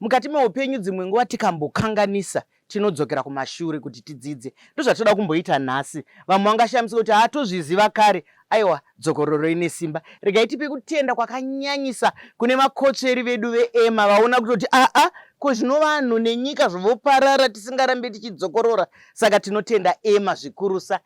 Mukati meupenyu dzimwe nguva tikambokanganisa tinodzokera kumashure kuti tidzidze. Ndozvatinoda kumboita nhasi. Vamwe vangashamisika kuti hatozviziva kare. Aiwa, dzokororo ine simba. Regai tipe kutenda kwakanyanyisa kune makotsveri vedu veEma vaona kutoti aa ko zvino vanhu nenyika zvovoparara tisingarambe tichidzokorora. Saka tinotenda Ema zvikurusa.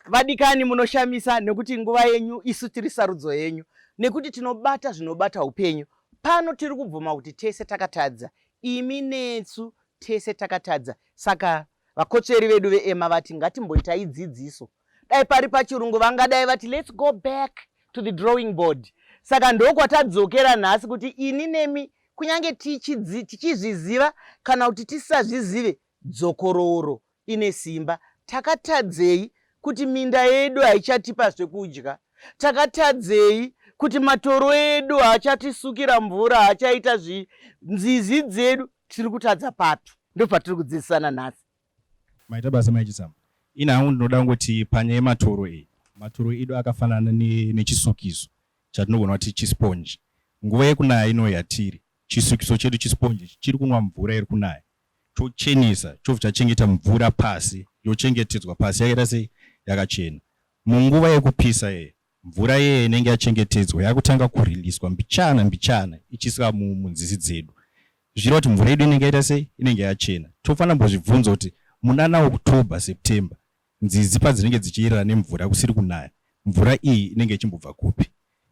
Vadikani munoshamisa nekuti nguva yenyu isu tiri sarudzo yenyu. Nekuti tinobata zvinobata upenyu. Pano tiri kubvuma kuti tese takatadza. Imi netsu tese takatadza. Saka vakotsveri vedu veEma vati ngatimboita idzidziso. Dai pari pachirungu vangadai vati let's go back to the drawing board. Saka ndokwatadzokera nhasi kuti ini nemi kunyange tichizviziva kana kuti tisazvizive Dzokorooro ine simba. Takatadzei kuti minda yedu haichatipa zvekudya? Takatadzei kuti matoro edu haachatisukira mvura, haachaita zvii? Nzizi dzedu tiri kutadza papi? Ndopatiri kudzidzisana nhasi. Maita basa mai Chitsama. Ini hangu ndinoda kungoti panyaya yematoro iyi, matoro edu akafanana nechisukiso chatinogona kuti chisponji. Nguva yekunaya ino yatiri, chisukiso chedu chisponji ichi chiri kunwa mvura iri kunaya. chochenesa chobva chachengeta mvura pasi yochengetedzwa pasi yakaita sei yakachena munguva yekupisa yeye mvura yeye inenge yachengetedzwa yakutanga kuriliswa mbichana mbichana ichiiswa munzizi dzedu zvichira kuti mvura yedu inenge yaita sei inenge yachena tofanira mbozvibvunza kuti munana october september Nzizi padzinenge dzichiyerera nemvura kusiri kunaya, mvura iyi inenge ichimbobva kupi?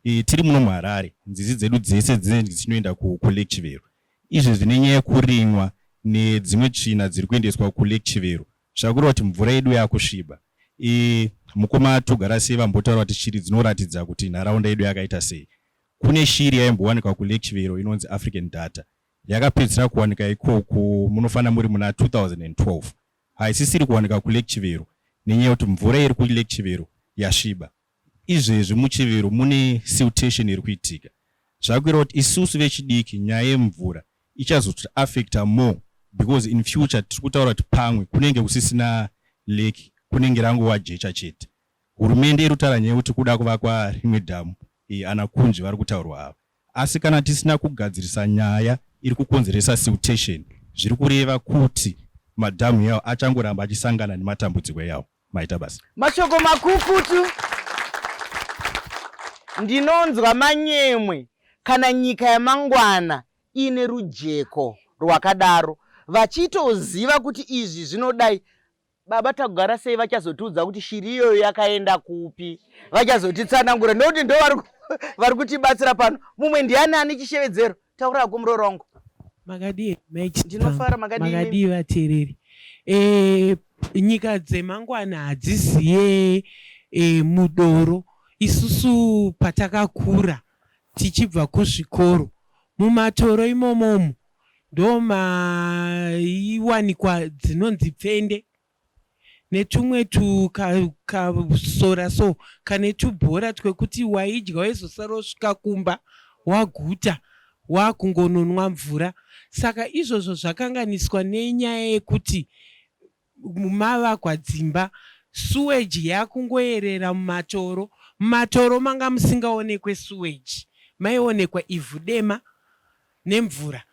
E, tiri muno muHarare, nzizi dzedu dzese dzinenge dzichinoenda ku, kuLake Chivero. Izvi zvine nyaya yekurimwa nedzimwe tsvina dziri kuendeswa kuLake Chivero zvakureva kuti mvura yedu yakusviba. E, mukoma Togarasei vambotaura kuti shiri dzinoratidza kuti nharaunda yedu yakaita sei. Kune shiri yaimbowanikwa kuLake Chivero inonzi African Darter. Yakapedzisira kuwanika ikoko munofanira muri muna 2012. haisisiri kuwanika kuLake Chivero nenyaya yekuti mvura iri kuLake Chivero yasviba. Izvezvi muChivero mune siltation iri kuitika zvave kureva kuti isusu vechidiki nyaya yemvura ichazoti affecta more because in future tiri kutaura kuti pamwe kunenge kusisina lake kunenge rangova jecha chete. Hurumende iri kutaura nyaya yekuti kuda kuvakwa rimwe dhamu iyi ana Kunzvi vari kutaurwa ava. Asi kana tisina kugadzirisa nyaya iri kukonzeresa siltation zviri kureva kuti madhamu yawo achangoramba achisangana nematambudziko yawo. Maita basa. Mashoko makukutu. Ndinonzwa manyemwe kana nyika yamangwana iine rujeko rwakadaro vachitoziva kuti izvi zvinodai Baba takugara sei vachazotiudza kuti shiri iyoyo yakaenda kupi vachazotitsanangura ndokuti ndo vari kutibatsira pano mumwe ndiani ane chishevedzero taura ko muroora wangu makadii ndinofara makadii vateereri eh, nyika dzemangwana hadziziye e, mudoro isusu patakakura tichibva kuzvikoro mumatoro imomomo ndomaiwanikwa dzinonzi pfende netumwe tukasora so kane tubhora twekuti waidya waizosara wosvika kumba waguta wakungononwa mvura saka izvozvo zvakanganiswa nenyaya yekuti mavakwa dzimba, sewage yakungoyerera mumatoro, mumatoro manga musingaonekwe sewage maionekwa ivhu dema nemvura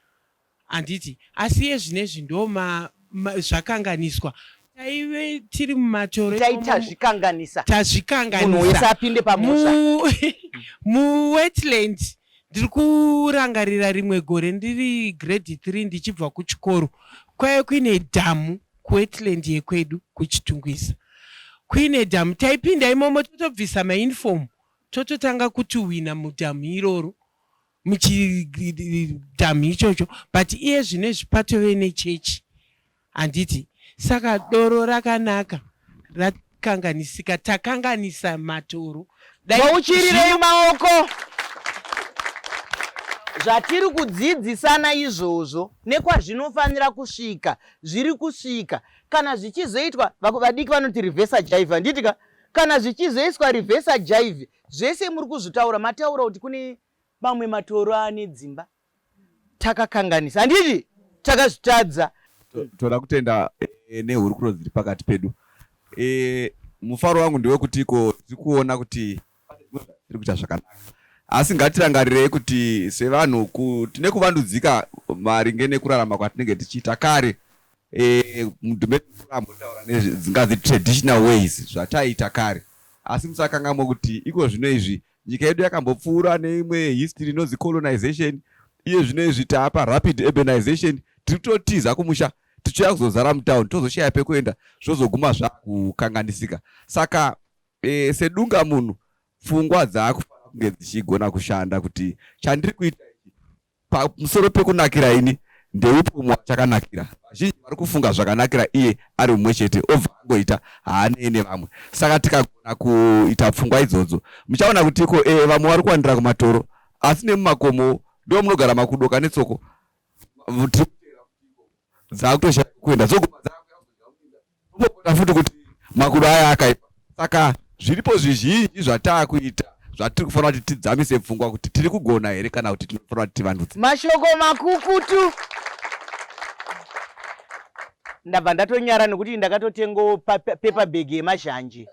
handiti asi iyezvinezvi ndoma zvakanganiswa taive tiri mumatoro itai tazvikanganisa tazvikanganisa munhu wese apinde pamusha mu wetland Ndiri kurangarira rimwe gore ndiri grade three ndichibva kuchikoro kwaive kuine dhamu kuwetland yekwedu kuChitungwiza. Kuine dhamu taipinda imomo totobvisa mauniform tototanga kutuhwina mudhamu iroro muchidhamu ichocho but iye zvino izvi patove nechechi Handiti saka doro rakanaka rakanganisika takanganisa matoro uchirireyi maoko zvatiri kudzidzisana izvozvo nekwazvinofanira kusvika zviri kusvika kana zvichizoitwa vadiki vanoti revesa jaive handiti ka kana zvichizoiswa revesa jaive zvese muri kuzvitaura mataura kuti kune mamwe matoro ane dzimba takakanganisa handiti takazvitadza toda kutenda e, nehurukuro dziri pakati pedu e, mufaro wangu ndewekuti iko tiri kuona kuti tiri kuita zvakanaka asi ngatirangarirei kuti sevanhu tine kuvandudzika maringe nekurarama kwatinenge tichiita kare e, mudhumeambotaura nedzingazi traditional ways zvataiita kare asi musakangamwe kuti iko zvino izvi Nyika yedu yakambopfuura neimwe history inonzi colonization iye zvino izvi taapa rapid urbanization tiri kutotiza kumusha tichiuya kuzozara mutown tozoshaya pekuenda zvozoguma zvakukanganisika saka e, sedunga munhu pfungwa dzaakufanira kunge dzichigona kushanda kuti chandiri kuita Pamusoro pekunakira ini, ndeupi umwe wachakanakira? Vazhinji vari kufunga zvakanakira iye ari mumwe chete, obva angoita, haanei nevamwe. Saka tikagona kuita pfungwa idzodzo, muchaona kuti iko ee, vamwe vari kuwandira kumatoro, asi nemumakomowo ndimo munogara makudoka netsoko. Tiri kuteerera kuti iko dzaakutoshaya kuenda dzoguma dzakuya kuzoita muminda Unogonda futi kuti makudo aya akaipa. Saka zviripo zvizhinji zvataakuita zvatiri kufanira kuti tidzamise pfungwa kuti tiri kugona here kana kuti tinofanira kuti tivandudze. Mashoko makukutu. Ndabva ndatonyara nekuti ndakatotengawo paper bag yemazhanje.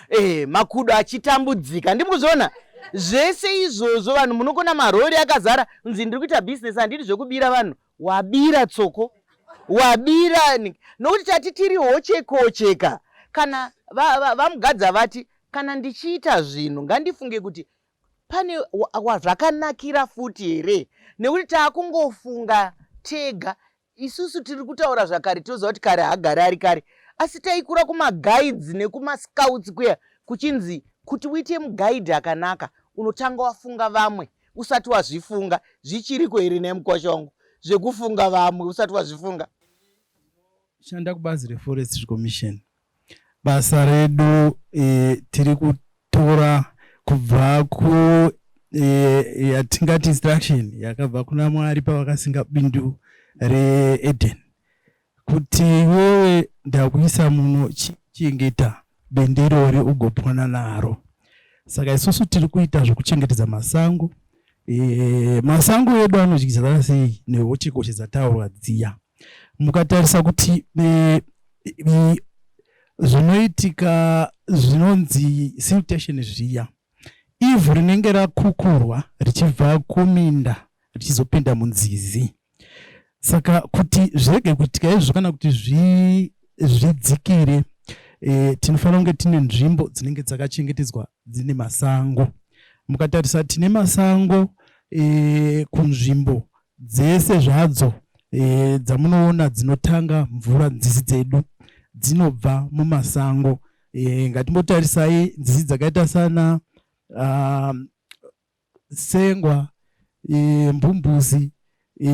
Eh, makudo achitambudzika. Ndiri kuzviona zvese izvozvo vanhu munokona marori akazara nzi ndiri kuita business handidi zvekubira vanhu wabira tsoko wabira nokuti tati tiri hochekocheka kana vamugadza va, va vati kana ndichiita zvinhu ngandifunge kuti pane wazvakanakira futi here nekuti taakungofunga tega isusu tiri kutaura zvakare tinoziva kuti kare hagare ari kare asi taikura kumaguides nekumascouts kuya kuchinzi kuti uite muguide akanaka unotanga wafunga vamwe usati wazvifunga zvichiriko here nhai mukosha wangu zvekufunga vamwe usati wazvifunga shanda kubazi reforestry commission basa redu e, tiri kutora kubva ku e, yatingati instruction yakabva kuna mwari pavakasinga bindu reeden kuti iwewe ndakuisa muno chichengeta bendirori ugopona naro saka isusu tiri kuita zvekuchengetedza masango e, masango edu anodyidzana sei nehochikoshi dzataurwa dziya mukatarisa kuti e, e, zvinoitika zvinonzi siltation zviya Ivhu rinenge rakukurwa richibva kuminda richizopinda munzizi. Saka kuti zvirege kuitika izvo kana kuti zvidzikire e, tinofanira kunge tine nzvimbo dzinenge dzakachengetedzwa dzine masango. Mukatarisa tine masango e, kunzvimbo dzese zvadzo e, dzamunoona dzinotanga mvura nzizi dzedu dzinobva mumasango E, ngatimbotarisai nzizi dzakaita sana uh, sengwa e, mbumbuzi e,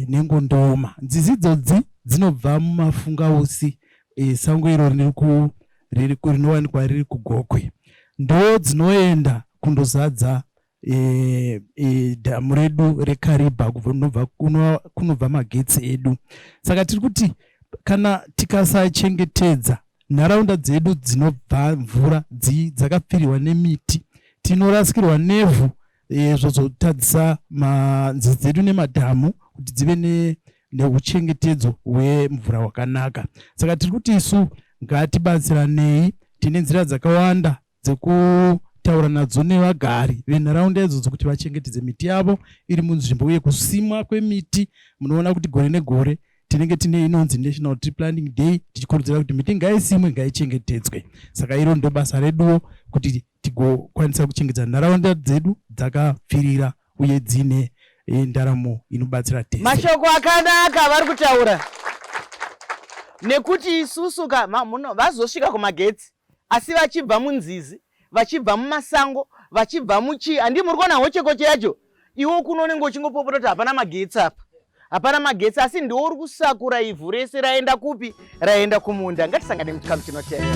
nengondoma. Nzizi idzodzi dzinobva mumafungausi e, sango iro rinowanikwa riri kugokwe, ndo dzinoenda kundozadza e, e, dhamu redu rekariba kunobva magetsi edu saka tiri kuti kana tikasachengetedza nharaunda dzedu dzinobva mvura dzakapfirirwa nemiti tinorasikirwa nevhu e, zvozotadzisa nzizi dzedu nemadhamu kuti dzive ne neuchengetedzo hwemvura hwakanaka saka tiri kuti isu ngatibatsiranei tine nzira dzakawanda dzekutaura nadzo nevagari venharaunda idzodzo kuti vachengetedze miti yavo iri munzvimbo uye kusimwa kwemiti munoona kuti gore negore tinenge tine inonzi national tree planting day tichikurudzira kuti miti ngaisimwe ngaichengetedzwe saka iro ndo basa reduwo kuti tigokwanisa kuchengetedza nharaunda dzedu dzakapfirira uye dzine eh, ndaramo inobatsira tese mashoko akanaka vari kutaura nekuti isusu ka vazosvika kumagetsi Asi vachibva munzizi, vachibva mumasango, vachibva muchii, handii muri kuona hochekoche yacho? Iwe kuno unenge uchingopopota kuti hapana magetsi apa, hapana magetsi, asi ndiwo uri kusakura ivhu rese raenda kupi? Raenda kumunda. Ngatisangane muchikamu chinotevera.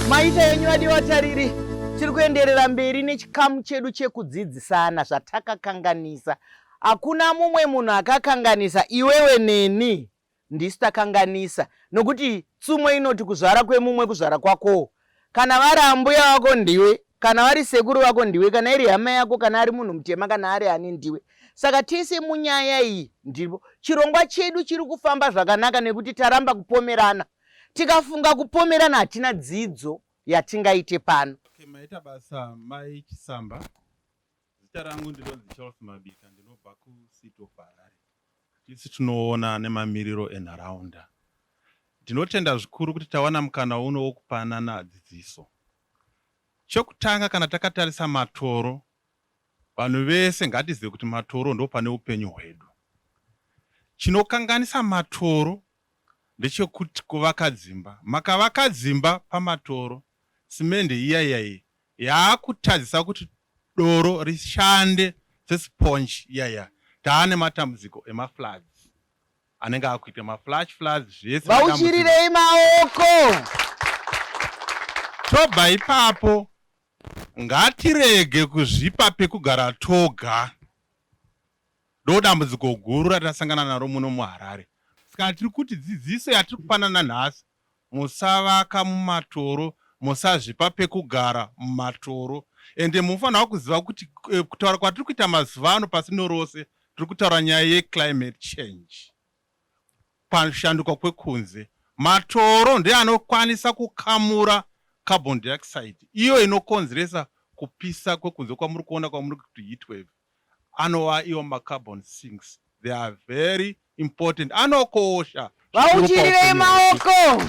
Maita yenyu adi vatariri, tiri kuenderera mberi nechikamu chedu chekudzidzisana zvatakakanganisa. Hakuna mumwe munhu akakanganisa iwewe neni ndisu takanganisa nokuti tsumo inoti kuzvara kwemumwe kuzvara kwakowo Kana vari ambuya vako ndiwe, kana vari sekuru vako ndiwe, kana iri hama yako, kana ari munhu mutema, kana ari ani ndiwe. Saka tese munyaya iyi ndiripo. Chirongwa chedu chiri kufamba zvakanaka nekuti taramba kupomerana. Tikafunga kupomerana hatina dzidzo yatingaite pano. Okay, maita basa mai Chisamba. Zita rangu ndinonzi Charles Mabika ndinobva kuCity of Harare. Tisi tinoona nemamiriro enharaunda. Ndinotenda zvikuru kuti tawana mukana uno wokupanana dzidziso. Chokutanga kana takatarisa matoro, vanhu vese ngatizive kuti matoro ndo pane upenyu hwedu. Chinokanganisa matoro ndechekuti kuvaka dzimba. Makavaka dzimba pamatoro, simende iya iya iyi yaakutadzisa kuti doro rishande se sponge iya iya taane matambudziko ema floods anenge akuita ma flash floods zvese vauchirirei maoko tobva ipapo ngatirege kuzvipa pekugara toga ndo dambudziko guru ratasangana naro muno muharare saka tiri kuti dzidziso yatiri kupanana nhasi musavaka mumatoro musazvipa pekugara mumatoro ende munofanirwa kuziva kuti kutaura kwatiri kuita mazuva ano pasino rose tiri kutaura nyaya yeclimate change kushanduka kwekunze matoro ndeanokwanisa kukamura carbon dioxide iyo inokonzeresa kupisa kwekunze kwamuri kuona kwamuri kuti heat wave anova iwo macarbon sinks they are very important anokosha vauchirirei maoko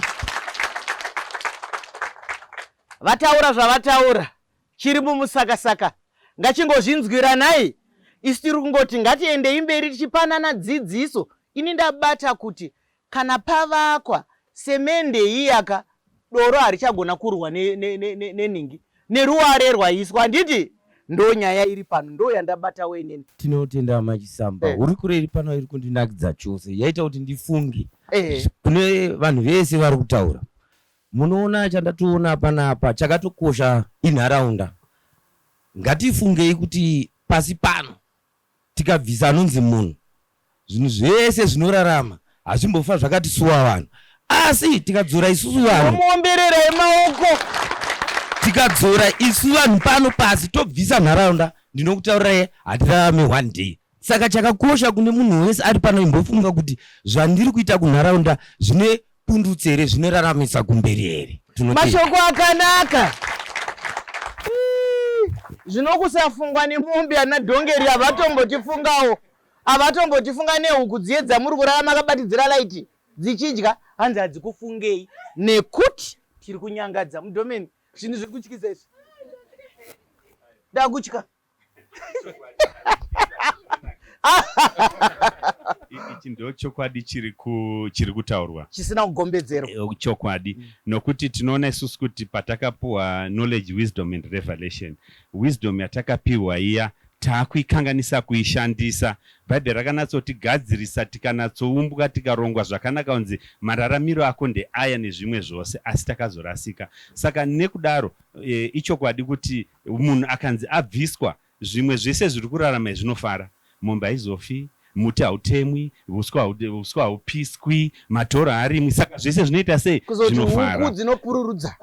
vataura zvavataura chiri mumusakasaka ngachingozvinzwiranai isu tiri kungoti ngatiendei mberi tichipanana dzidziso ini ndabata kuti Kana pavakwa semende iyaka doro harichagona kurwa neningi neruware rwaiswa handiti ndo nyaya iri pano ndo yandabatawo inini tinotenda hama chisamba eh. hurukuro iri pano iri kundinakidza chose yaita kuti ndifunge eh. kune vanhu vese vari kutaura munoona chandatoona panapa chakatokosha inharaunda ngatifungei kuti pasi pano Tikabvisa anonzi munhu, zvinhu zvese zvinorarama hazvimbofa zvakatisuwa vanhu. Asi tikadzora isusu vanhu. Tomuomberera emaoko. Tikadzora isu vanhu pano pasi tobvisa nharaunda ndinokutaurirai hatirarame one day. Saka chakakosha kune munhu wese ari pano imbofunga kuti zvandiri kuita kunharaunda zvine pundutse here zvinoraramisa kumberi here mashoko akanaka zvinokusafungwa nemombe ana dhongeri havatombotifungawo havatombotifunga nehuku dziye dzamuri kurara makabatidzira laiti dzichidya hanzi hadzikufungei nekuti tiri kunyangadza mudomeni zvinhu zviri kutyisa izvi ndakutya ichi ndo chokwadi chiri ku- chiri kutaurwa chisina kugombedzerwa Eh, chokwadi Mm. nokuti tinoona isusu kuti patakapuwa knowledge wisdom and revelation wisdom yatakapiwa iya taakuikanganisa kuishandisa bhaibheri rakanatsotigadzirisa tikanatsoumbwa tikarongwa zvakanaka kunzi mararamiro ako ndeaya nezvimwe zvose asi takazorasika saka nekudaro e, ichokwadi kuti Munhu akanzi abviswa, zvimwe zvese zviri kurarama izvi zvinofara. Mombe haizofi, muti hautemwi, huswa huswa haupiswi, matoro haarimwi. Saka zvese zvinoita sei? Kuzoti Zvinofara. huku dzinopururudza.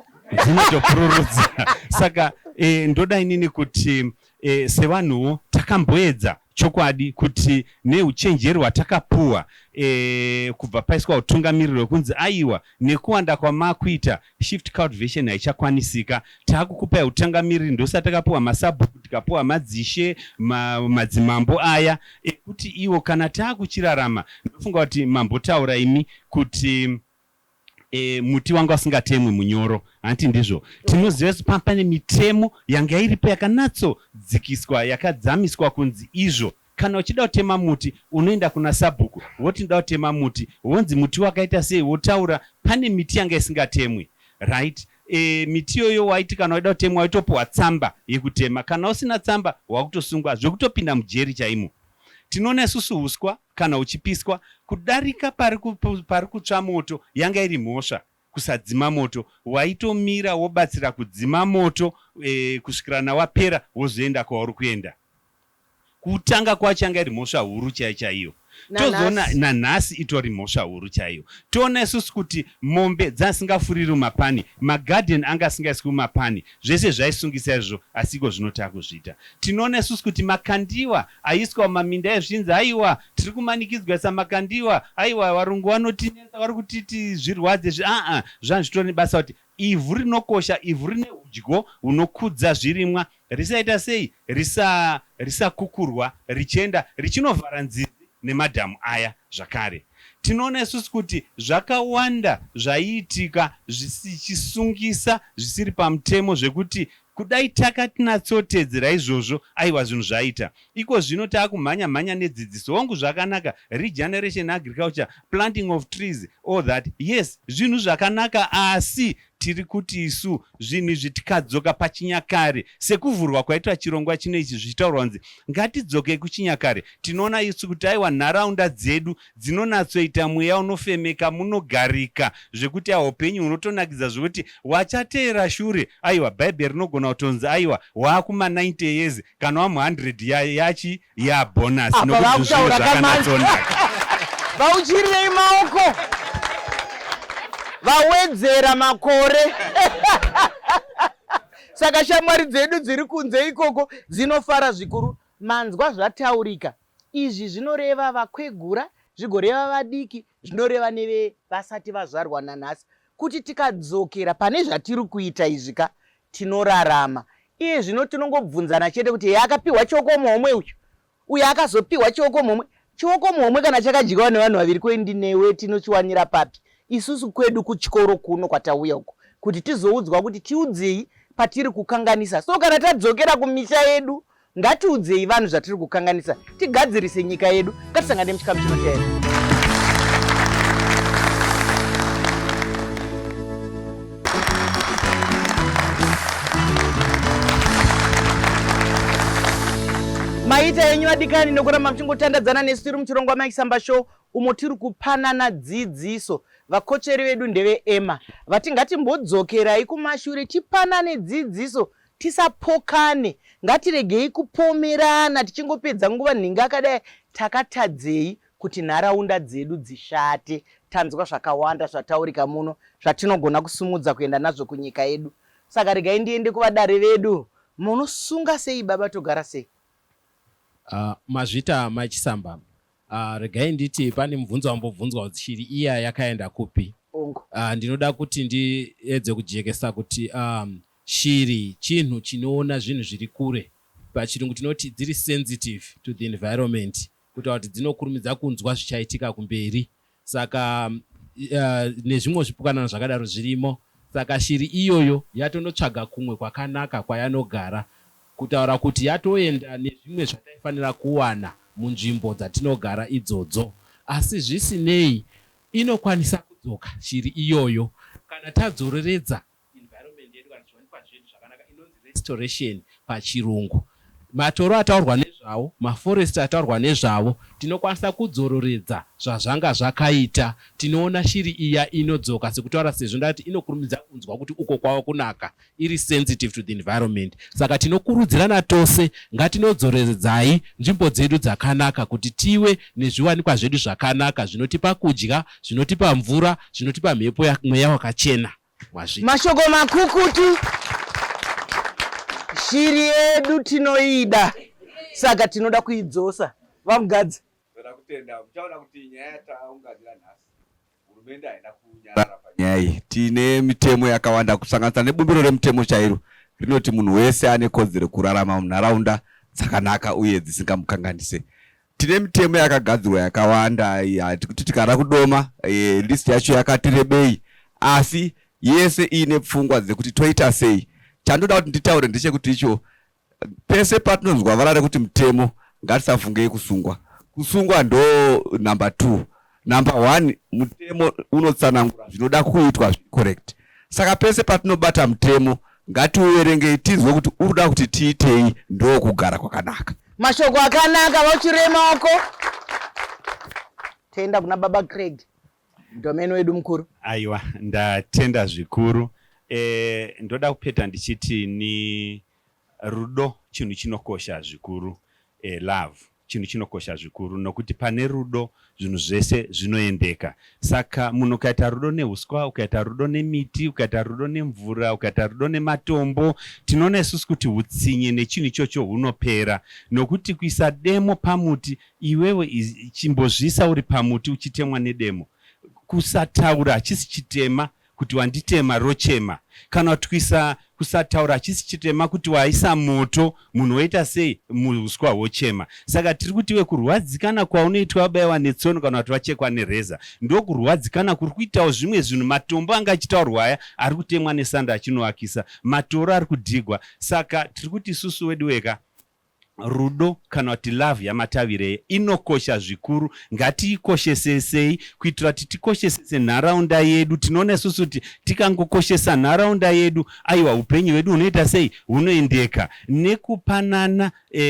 dzinotopururudza saka eh, ndoda inini kuti eh, sevanhuwo takamboedza chokwadi kuti neuchenjeri hwatakapuwa eh, kubva paiswa utungamiriri wekunzi aiwa nekuwanda kwamakuita Shift cultivation haichakwanisika. Takukupai hutungamiriri ndosaka takapiwa masabhuku tikapiwa madzishe ma, madzimambo aya ekuti iwo kana takuchirarama ndofunga kuti mambotaura imi kuti e, muti wanga usingatemwi munyoro hanti ndizvo tinoziva kuti pane mitemo yanga iripo yakanatsodzikiswa yakadzamiswa kunzi izvo Kana uchida kutema muti unoenda kuna sabhuku woti ndoda kutema muti wonzi muti wakaita sei wotaura pane miti yanga isingatemwi right eeh miti iyoyo waiti kana waida kutemwa waitopuhwa tsamba yekutema kana usina tsamba wakutosungwa zvekutopinda mujeri chaimo. Tinoona isusu huswa kana huchipiswa kudarika pari kutsva moto yanga iri mhosva. kusadzima moto waitomira wobatsira kudzima moto kusvikira na wapera wozoenda kwauri kuenda. Kutanga kwacho yanga iri mhosva huru chaiyo chaiyo tozoona nanhasi itori mhosva huru chaiyo. Toona isusu kuti mombe dzasingafuriri mumapani, magarden anga asingaiswi mumapani zvese zvaisungisa izvozvo asi ikozvino takuzviita. Tinoona isusu kuti makandiwa Aiswa mumaminda ezvinzi haiwa tiri kumanikidzwa saMakandiwa haiwa varungu vanotinetsa vari kutiti zvirwadze izvi aa zvanzi zvitori nebasa kuti ivhu rinokosha ivhu rine hudyo hunokudza zvirimwa risaita sei risa risakukurwa richenda richinovhara nzizi nemadhamu aya zvakare tinoona isusu kuti zvakawanda zvaiitika zvichisungisa zvisiri pamutemo zvekuti Kudai taka tnatsotedzera izvozvo aiwa zvinhu zvaita. Iko zvino taakumhanya mhanya nedzidziso. Hongu zvakanaka regeneration agriculture, planting of trees all that yes zvinhu zvakanaka asi tiri kuti isu zvinhu izvi tikadzoka pachinyakare sekuvhurwa kwaitwa chirongwa chino ichi zvichitaurwa kunzi ngatidzokei kuchinyakare tinoona isu kuti aiwa nharaunda dzedu dzinonatsoita mweya unofemeka munogarika zvekuti ahupenyu hunotonakidza zvekuti wachateera shure aiwa bhaibheri rinogona kutonzi aiwa waakuma 90 years kana wamu 100 ya yachi ya bonus apa vakutaura kamanatsonaka vauchirirei maoko vawedzera makore saka shamwari dzedu dziri kunze ikoko dzinofara zvikuru manzwa zvataurika Izvi zvinoreva vakwegura, zvigoreva vadiki, zvinoreva nevevasati vazvarwa nanhasi, kuti tikadzokera pane zvatiri kuita izvi ka, tinorarama. Iye zvino tinongobvunzana chete kuti ehe akapihwa chiokomuhomwe uyu, uyu akazopihwa chiokomuhomwe. Chiokomuhomwe kana chakadyiwa nevanhu vaviri ko ini newe tinochiwanira papi? Isusu kwedu kuchikoro kuno kwatauya uku kuti tizoudzwa kuti tiudzei patiri kukanganisa. So kana tadzokera kumisha yedu Ngatiudzei vanhu zvatiri kukanganisa tigadzirise nyika yedu. Ngatisangane muchikamu chinoteera. maita yenyu adikani nekuramba muchingotandadzana nesu tiri muchirongwa maisamba show umo tiri kupanana dzidziso vakocheri vedu ndeve ema vati ngatimbodzokerai kumashure tipanane dzidziso Tisapokane, ngatiregei kupomerana tichingopedza nguva nhingi akadai takatadzei kuti nharaunda dzedu dzishate. Tanzwa zvakawanda zvataurika muno zvatinogona kusumudza kuenda nazvo kunyika yedu saka regai ndiende kuvadare vedu. Munosunga sei baba Togarasei? Uh, mazvita mai Chisamba. Uh, regai nditi pane mubvunzo wambobvunzwa kuti shiri iya yakaenda kupi? Ongo. Uh, ndinoda kuti ndiedze kujekesa kuti um, Shiri chinhu chinoona zvinhu zviri kure. Pachirungu tinoti dziri sensitive to the environment kutaura kuti dzinokurumidza kunzwa zvichaitika kumberi saka nezvimwewo zvipukanana zvakadaro zvirimo saka shiri iyoyo yatonotsvaga kumwe kwakanaka kwayanogara kutaura kuti yatoenda nezvimwe zvataifanira kuwana munzvimbo dzatinogara idzodzo asi zvisinei inokwanisa kudzoka shiri iyoyo kana tadzoreredza environment yedu kana zviwanikwa zvedu zvakanaka inonzi restoration pachirungu. Matoro ataurwa nezvawo, maforest ataurwa nezvavo tinokwanisa kudzororedza zvazvanga zvakaita. Tinoona shiri iya inodzoka sekutaura sezvo ndati inokurumidza kunzwa kuti uko kwava kunaka iri sensitive to the environment. Saka tinokurudzirana tose ngatinodzoreredzai nzvimbo dzedu dzakanaka kuti tive nezviwanikwa zvedu zvakanaka zvinotipa kudya zvinotipa mvura, zvinotipa mhepo mweya wakachena. Mwazvita. Mashoko makukutu. Shiri yedu tinoida saka tinoda kuidzosa. VaMugadzi. Toda kutenda muchaona kuti nyaya yataunganira nhasi hurumende haina kunyarara panyaya iyi. Tine mitemo yakawanda kusanganisa nebumbiro remutemo chairo rinoti munhu wese ane kodzero kurarama munharaunda dzakanaka uye dzisingamukanganise. tine mitemo yakagadzirwa yakawanda kuti tikada kudoma e, list yacho yakati rebei asi yese iine pfungwa dzekuti toita sei chandoda kuti nditaure ndechekuti icho pese patinonzwa vara rekuti mutemo ngatisafungei kusungwa kusungwa ndo number two Number one, mutemo unotsanangura zvinoda kuitwa zviri correct. Saka pese patinobata mutemo ngatiuverengei tinzwe kuti uri kuda kuti tiitei ndokugara kwakanaka. Mashoko akanaka vachirema wako. Tenda kuna baba Craig domeni wedu mukuru. Aiwa ndatenda zvikuru. Eh, ndoda kupeta ndichiti ni rudo chinhu chinokosha zvikuru eh, love chinhu chinokosha zvikuru nokuti pane rudo zvinhu zvese zvinoendeka. Saka munhu ukaita rudo neuswa, ukaita rudo nemiti, ukaita rudo nemvura, ukaita rudo nematombo, tinoona isusu kuti utsinye nechinhu ichocho hunopera. Nokuti kuisa demo pamuti, iwewe chimbozviisa uri pamuti uchitemwa nedemo. Kusataura hachisi chitema, kuti wanditema rochema kana kuti kuisa kusataura hachisi chitema kuti waisa moto munhu woita sei muuswa hwochema saka tiri kuti iwe kurwadzikana kwaunoitwa wabaiwa netsono kana kuti vachekwa nereza ndokurwadzikana kuri kuitawo zvimwe zvinhu matombo anga achitaurwa aya ari kutemwa nesando achinovakisa matoro ari kudhigwa saka tiri kuti isusu wedu weka Rudo kana kuti love yaMatavirei inokosha zvikuru. Ngatiikoshese sei kuitira kuti tikoshesese nharaunda yedu. Tinoona isusu kuti tikangokoshesa nharaunda yedu, aiwa hupenyu hwedu hunoita sei? Hunoendeka nekupanana e,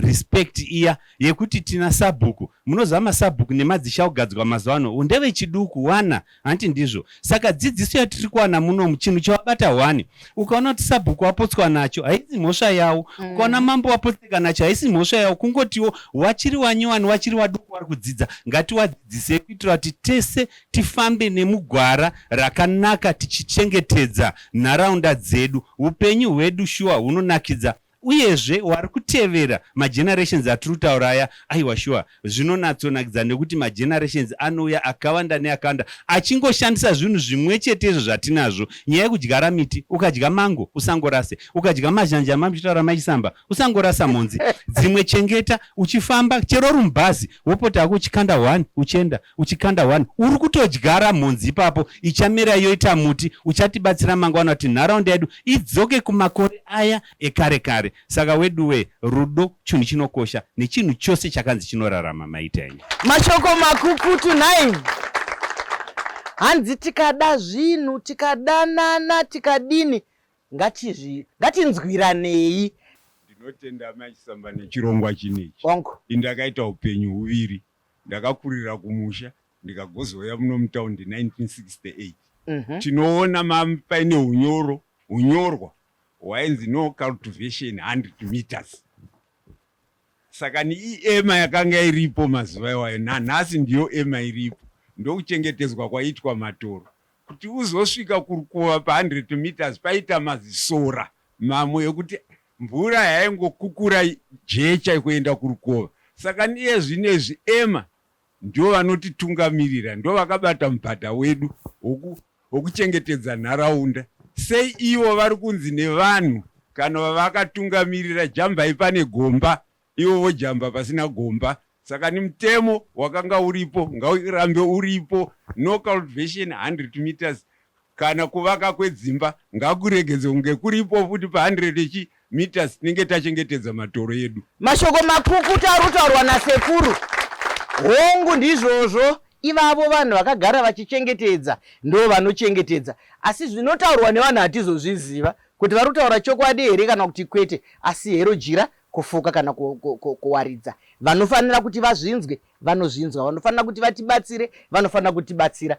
respect iya yekuti tina sabhuku. Munoziva masabhuku nemadzisha ogadzwa mazuva ano ndevechiduku wana hanti ndizvo saka dzidziso yatiri kuwana muno muchinhu chavabata hwani ukaona kuti sabhuku wapotswa nacho haisi mhosva yawo mm. ukaona mambo wapotseka nacho haisi mhosva yawo kungotiwo wachiri wanyowani wachiri waduku wari kudzidza ngatiwadzidzisei kuitira kuti tese tifambe nemugwara rakanaka tichichengetedza nharaunda dzedu upenyu hwedu shuwa hunonakidza Uyezve wari kutevera magenerations atiri kutaura aya, aiwa shuwa zvinonatsonakidza nekuti magenerations anouya akawanda neakawanda achingoshandisa zvinhu zvimwechetezvo zvatinazvo. Nyaya yekudyara miti, ukadya mango usangorase, ukadya mazhanje amamchitaura mai Chisamba usangorasa mhonzi dzimwe chengeta uchifamba chero uri mubhazi wopota hako uchikanda one uchienda. uchikanda one uri kutodyara mhonzi ipapo ichamera yoita muti uchatibatsira mangwana kuti nharaunda yedu idzoke kumakore aya ekare kare saka weduwe rudo chinhu chinokosha nechinhu chose chakanzi chinorarama maita enyu mashoko makukutu nhai hanzi tikada zvinhu tikadanana tikadini ngatizvi ngatinzwiranei ndinotenda mai chisamba nechirongwa chinechi indakaita upenyu huviri Ndakakurira kumusha ndikagozouya muno mutown 1968. Mm -hmm. Tinoona paine hunyoro hunyorwa hwainzi no cultivation 100 meters. Saka ni ema yakanga iripo mazuva iwayo nanhasi ndiyo ema iripo ndokuchengetedzwa kwaitwa matoro Kuti uzosvika kurukova pa 100 metres paita mazisora mamwe ekuti mvura yaingokukura jecha kuenda kurukova saka niye zvinezvi ema ndivo vanotitungamirira ndovakabata mubhadha wedu wekuchengetedza nharaunda sei ivo vari kunzi nevanhu kana vavakatungamirira jambai pane gomba ivo vojamba pasina gomba saka ni mutemo wakanga uripo ngaurambe uripo no cultivation 100 metres kana kuvaka kwedzimba ngakuregedzwe kunge kuripo futi pa 100 chi metres tinenge tachengetedza matoro edu. Mashoko makukutu ari kutaurwa nasekuru. Hongu ndizvozvo ivavo vanhu vakagara vachichengetedza ndo vanochengetedza asi zvinotaurwa nevanhu hatizozviziva kuti vari kutaura chokwadi here kana kuti kwete asi hero jira kufuka kana ku, ku, ku, kuwaridza vanofanira kuti vazvinzwe vanozvinzwa vanofanira kuti vatibatsire vanofanira kutibatsira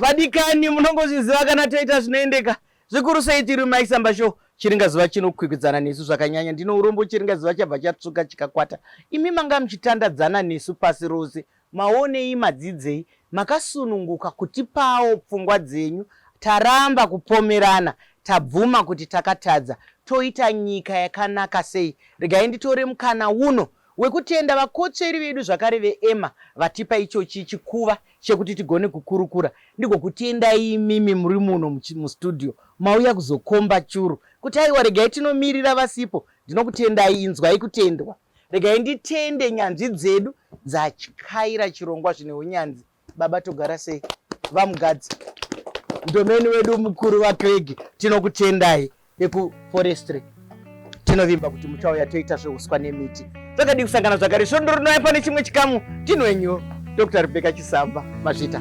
vadikani munongozviziva kana toita zvinoendeka zvikuru sei tiri maisamba show chiringa zuva chinokwikwidzana nesu zvakanyanya ndino urombo chiringa zuva chabva chatsvuka chikakwata imi manga muchitandadzana nesu pasi rose Maonei madzidzei makasununguka kutipawo pfungwa dzenyu taramba kupomerana tabvuma kuti takatadza toita nyika yakanaka sei regai nditore mukana uno wekutenda vakotsveri vedu zvakare veEmma vatipa ichochi chikuva chekuti tigone kukurukura ndigokutendai imimi muri muno mustudio mauya kuzokomba churu kuti aiwa regai tinomirira vasipo ndinokutendai inzwai kutendwa regai nditende nyanzvi dzedu dzatyaira chirongwa zvine unyanzi baba togara sei vamugadzi ndomeni wedu mukuru vacreg tinokutendai vekuforestry tinovimba kuti muchauya toita zveuswa nemiti zvakadii kusangana zvakare svondo rinouya pane chimwe chikamu tinwenyu dr rebeka chisamba mazvita